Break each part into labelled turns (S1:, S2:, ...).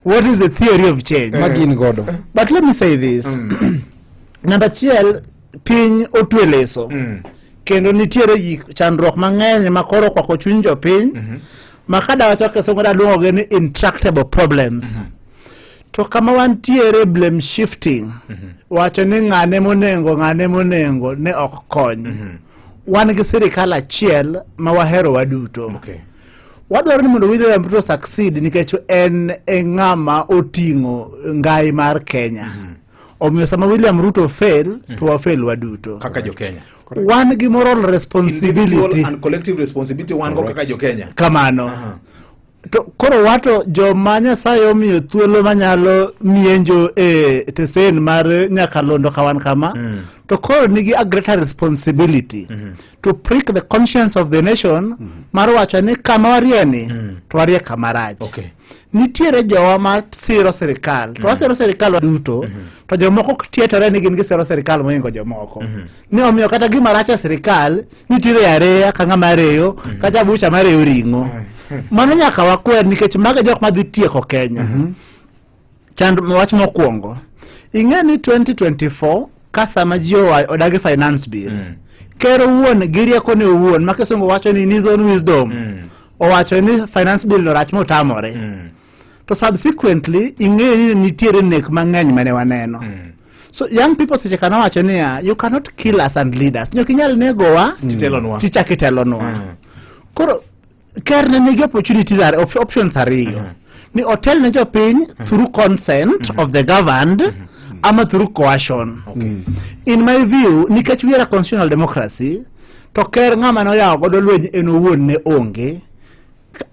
S1: what is the theory of change eh. magin godo but let me say this mm. namba achiel piny otwe leso mm. kendo nitiere gik chandruok mang'eny ma koro okwako chuny jopiny mm -hmm. ma kadawacho kisungu daluongogi ni intractable problems mm -hmm. to kama wantiere blame shifting mm -hmm. wacho ni ng'ane monengo ng'ane monengo ne ok kony mm -hmm. wan gi sirikal achiel ma wahero waduto okay.
S2: Wadwaro ni
S1: mondo William Ruto succeed nikech en e ng'ama oting'o ngai mar Kenya. Mm -hmm. Omiyo sama William Ruto fail, mm -hmm. to wafail waduto. Kaka jo Kenya.
S2: Wan gi moral
S1: responsibility. Individual and collective
S2: responsibility wan go kaka jo Kenya. Kamano. Uh
S1: -huh. To koro wato joma Nyasaye omiyo thuolo manyalo mienjo e tesen mar nyakalondo kawan kama mm. to koro nigi a greater responsibility mm -hmm. to prick the conscience of the nation mm -hmm. mar wacho ni kama warie ni mm. to warie kama rach okay.
S2: nitiere jowa
S1: ma siro sirikal mm -hmm. to wasiro mhm. sirikal duto mm -hmm. to jomoko tietore ni gin gisiro sirikal mohingo jomoko mm -hmm. ni omiyo kata gima rach e sirikal nitiere areya ka ng'ama areyo mm -hmm. kata bucha mareyo ring'o mm -hmm. mano nyaka wakwer nikech maga jok madhi tieko kenya mm -hmm. Chand wach mokwongo ing'e ni 2024 ka sama ji owayo odagi finance bill mm. ker owuon gi riekone owuon ma kisungu wacho ni in his own wisdom mm. owacho ni finance bill no rach motamore mm. to subsequently ing'eyo ni nitiere nek mang'eny mane waneno mm. so young people seche kana wacho niya you cannot kill us and lead us nyok inyal negowa mm. tichak itelonwa mm. koro ker ne nigi opportunities are op options ariyo uh -huh. ni otel ne jopiny uh -huh. through consent uh -huh. of the governed uh -huh. ama through coercion okay. Mm. in my view nikech we are a constitutional democracy to ker ng'ama noyawo godo lweny en owuon ne onge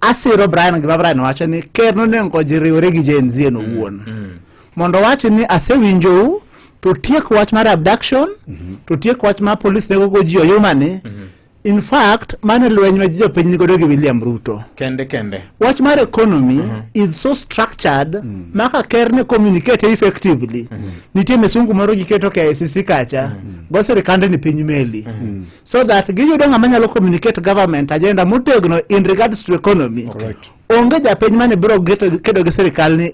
S1: asiro Brian gima Brian wacho ni ker nonengo jiriwore gi Gen Z en owuon mm, mm. mondo wach ni asewinjou to tiek wach mar abduction mm -hmm. to tiek wach mar police nego go ji oyumani mm -hmm. In fact, mano e lweny ma jopiny nigodo gi William Ruto. Kende kende. Wach
S2: mar economy
S1: mm -hmm. is so structured mm -hmm. maka ker ne communicate effectively. Mm -hmm. Nitie misungu moro giketo ka ICC kacha mm -hmm. go sirikande ni piny meli. Mm -hmm. So that giyudo ng'ama nyalo communicate government agenda motegno in regards to economy. Correct. Onge japiny mane biro kedo gi sirikal ni